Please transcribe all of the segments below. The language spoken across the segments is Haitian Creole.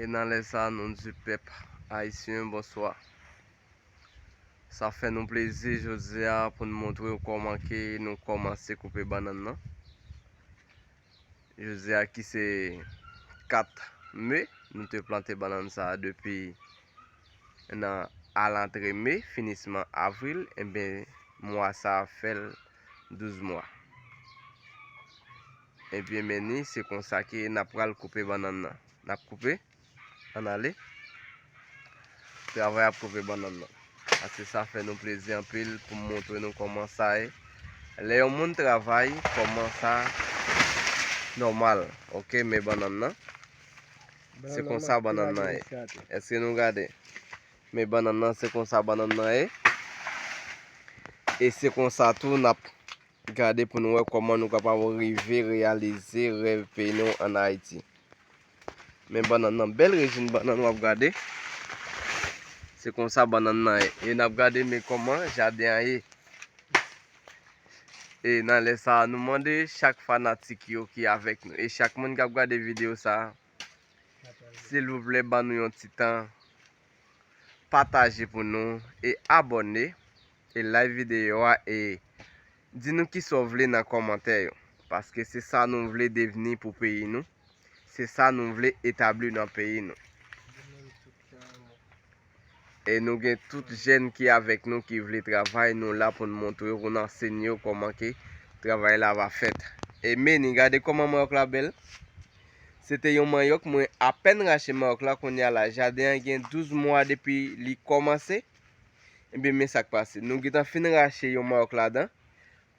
E nan lè sa nou di pèp ayisyen bonswa. Sa fè nou plezi jodi a pou nou montre w kòman ke nou kòmanse koupe bannann nan. Jodi a ki se 4 me, nou te plante bannann sa a depi nan alantre me, finisman avril, enben mwa sa a fè l 12 mwa. Ebyen men ni, se konsa ke n ap pral koupe bannann nan. N ap koupe. Ann ale. Travay ap koupe bannann nan. Ase sa fè nou plezi anpil pou m montre nou kòman sa ye. Lè yon moun travay, kòman sa nòmal. Ok, men bannann nan. Se konsa bannann nan ye. Eske nou gade? Men bannann nan, se konsa bannann nan ye. E se konsa tou n ap Gade pou nou wè kòman nou kapab rive reyalize rèv peyi nou an Ayiti. Men bannann nan, bèl rejim bannann wap gade. Se konsa bannann nan ye. E nap gade men kòman jaden an ye. E nan lè sa a, nou mande chak fanatik yo ki avèk nou. E chak moun kap gade videyo sa a. Silvouplè ban nou yon ti tan. Pataje pou nou. E abòne. e like videyo a e Di nou kisa w vle nan kòmantè yo paske se sa nou vle devni pou peyi nou se sa nou vle etabli nan peyi nou e nou gen tout jèn ki avèk nou ki vle travay nou la pou nou montre yo pou nou ansenye yo kòman ke travay la va fèt e meni gade kòman manyòk la bèl se te yon manyòk mwen apèn rache manyòk la kounye a la jaden an gen 12 mwa depi li kòmanse. Ebyen men sak pase, nou gentan fin rache yon marc ladan,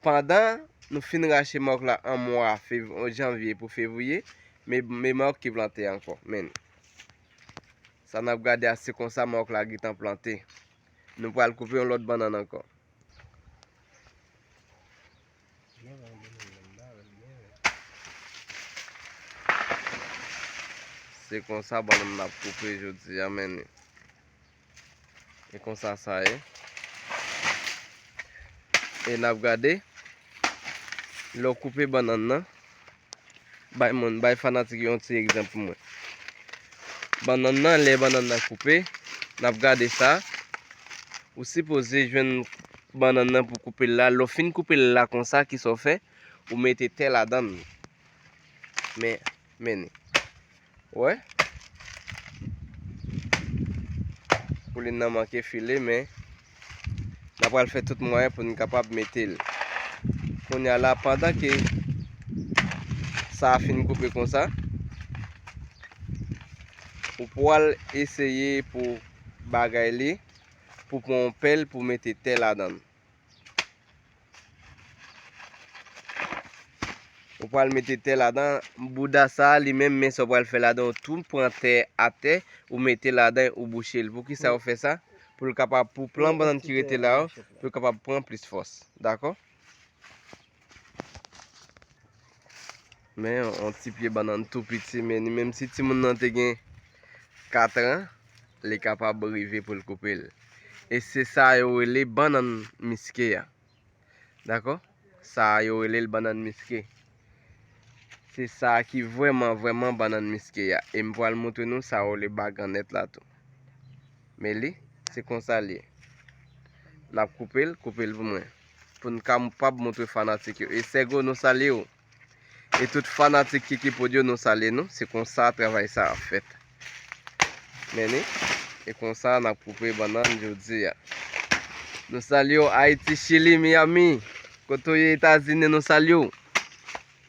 pandan nou fin rache marc la an mwa janvier pou fevrier, men marc ki plante ankò, men. Sa nap gade a se konsa marc la gentan plante. Nou pral koupe yon lòt bannan ankò. Se konsa bannan nap koupe jodi a men. E konsa sa ye. E nap gade. Lè w koupe bannann nan. Bay moun, bay fanatik yo yon ti egzanp pou mwen. Bannann nan, lè bannann nan koupe. Nap gade sa. Ou sipoze jwenn bannann nan pou koupe l la. Lè w fin koupe l la konsa, kisa w fè? Ou mete tè ladan l. Men, men ni. Wè. Koulin nan manke file men. Nan pral fè tout mwen pou nou kapab mete l. Koun ya la pandan ke sa a fin koupe kon sa. Ou pwal eseye pou bagay li pou pon pèl pou mete tè la dan. Ou pral mete tè ladan, bouda sa li menm men sa ou pral fè ladan ou tou pran tè atè, ou mete ladan ou bouche l. Pou ki sa ou fè sa? Pou l kapab pou plan bannann ki rete la yo, pou l kapab pran plis fòs. Dakò? Men yon ti pye bannann tou piti men ni menm si timoun nan te gen 4 an li kapab rive pou l koupe l. E se sa yo rele bannann miske a. Dakò? Sa yo rele l bannann miske. Se sa ki vwèman vwèman bannann miske a. E m pral moutre nou sa yo rele bagannèt la tou. Men li, se konsa li. N ap koupe l, koupe l pou mwen. pou n kapab montre fanatik yo. E Sego nou salye ou. E tout fanatik Kiki Prod yo nou salye nou. Se konsa travay sa ap fèt. Meni. E konsa n ap koupe bannann jodi a. Nou salye ou Ayiti, Chili, Miami. Kote ou ye Etazini nou salye ou.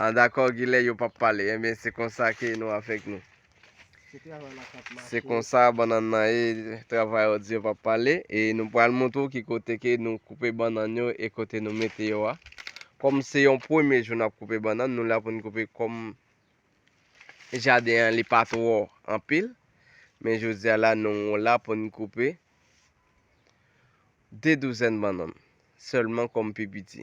Ah dakò gilè yo pap pale Ebyen se konsa ke nou avèk nou Se konsa bannan nan e travay ou di yo pap pale E nou pral montre ou ki kote ke nou koupe bannan yo e kote nou mete yo a Kòm se yon premye jou nap koupe bannan nou la pou nou koupe kòm Jaden an li pa twò anpil Men jodi a la nou la pou nou koupe 2 douzèn bannann sèlman kòm pi piti.